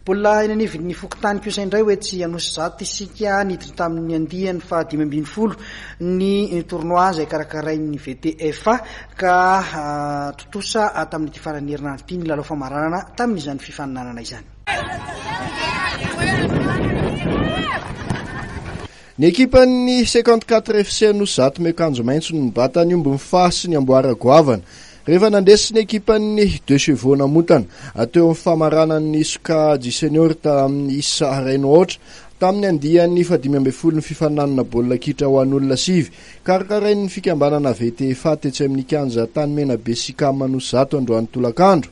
Mbola eny anivon'ny fokontany kosa indray ho etsy Anosizato isika niditra tamin'ny andiany faha dimy ambin'ny folo ny tournoi izay karakarain'ny VTFA ka ah, tontosa ah, tamin'ity faran'ny herinandro ity ny lalao famaranana tamin'izany fifaninanana izany. Ny ekipan'ny 54 FC Anosizato miakanjo maitso no nibata ny ombin'ny faha sy ny amboara goavana. Rehefa nandresy ny ekipan'ny Deux Chevaux Namontana teo amin'ny famaranan'ny sokajy senior tamin'ny isa iray no aotra, tamin'ny andiany fahadimy ambin'ny folo ny fifaninanana baolina kitra ho an'olona sivy, karakarain'ny fikambanana VTFA tetsy amin'ny kianja Tanimenabe Sicam Anosizato androany tolakandro.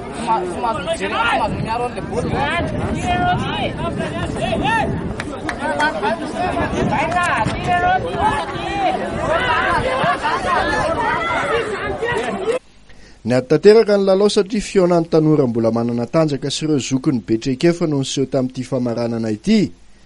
Niady tanteraka ny lalao satria fihaonan'ny tanora mbola manana tanjaka sy ireo zokiny be traikefa no niseho tamin'ity famaranana ity.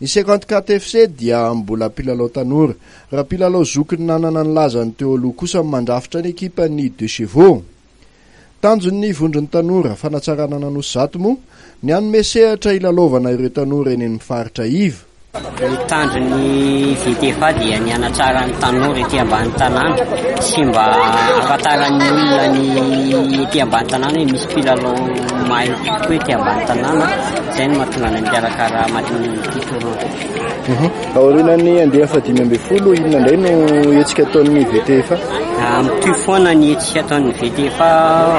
Ny cinquante quatre FC dia mbola mpilalao tanora. Raha mpilalao zokin'ny nanana ny lazany teo aloha kosa ny mandrafitra ny ekipan'ny Deux Chevaux. Tanjon'ny Vondron'ny Tanora Fanatsarana An'Anosy Zato moa ny hanome sehatra hilalaovana ireo tanora eny amin'ny faritra iva. Ny tanjon'ny VTFA dia ny hanatsara ny tanora ety ambany tanàna sy mba hahafantaran'ny olona ny ety ambany tanàna hoe misy mpilalao mahay kokoa ety ambany tanàna, izay no mahatonga anay mikarakara match ity tournoi ity. Aorianan'ny andiany fahadimy ambin'ny folo, inona indray no hetsika ataon'ny VTFA? Mitohy foana ny hetsika ataon'ny VTFA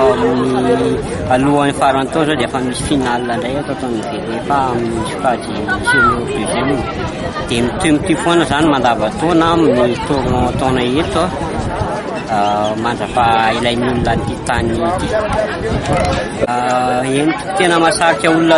amin'ny alohan'ny faran'ny taona izao dia efa misy finale indray ato ataon'ny VTFA amin'ny sokajy senior deuxième. Dia mitohy mitohy foana izany mandavan-taona amin'ny tournoi taona eto ah, mandrapa ilay olona an'ity tany ity. Ah, eny, tena masarika olona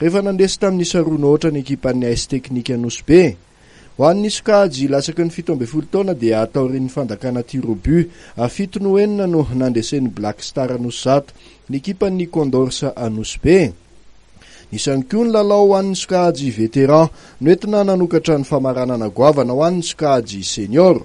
Rehefa nandresy tamin'ny saronaotra ny ekipan'ny AS Teknika Nosy Be. Ho an'ny sokajy latsaky ny fito ambin'ny folo taona dia taorian'ny fandakana tir au but fito noho enina no nandresen'ny Black Star Anosizato ny ekipan'ny Condors Anosibe. Nisy ihany koa ny lalao ho an'ny sokajy Vétéran noentina nanokatra ny famaranana goavana ho an'ny sokajy Senior.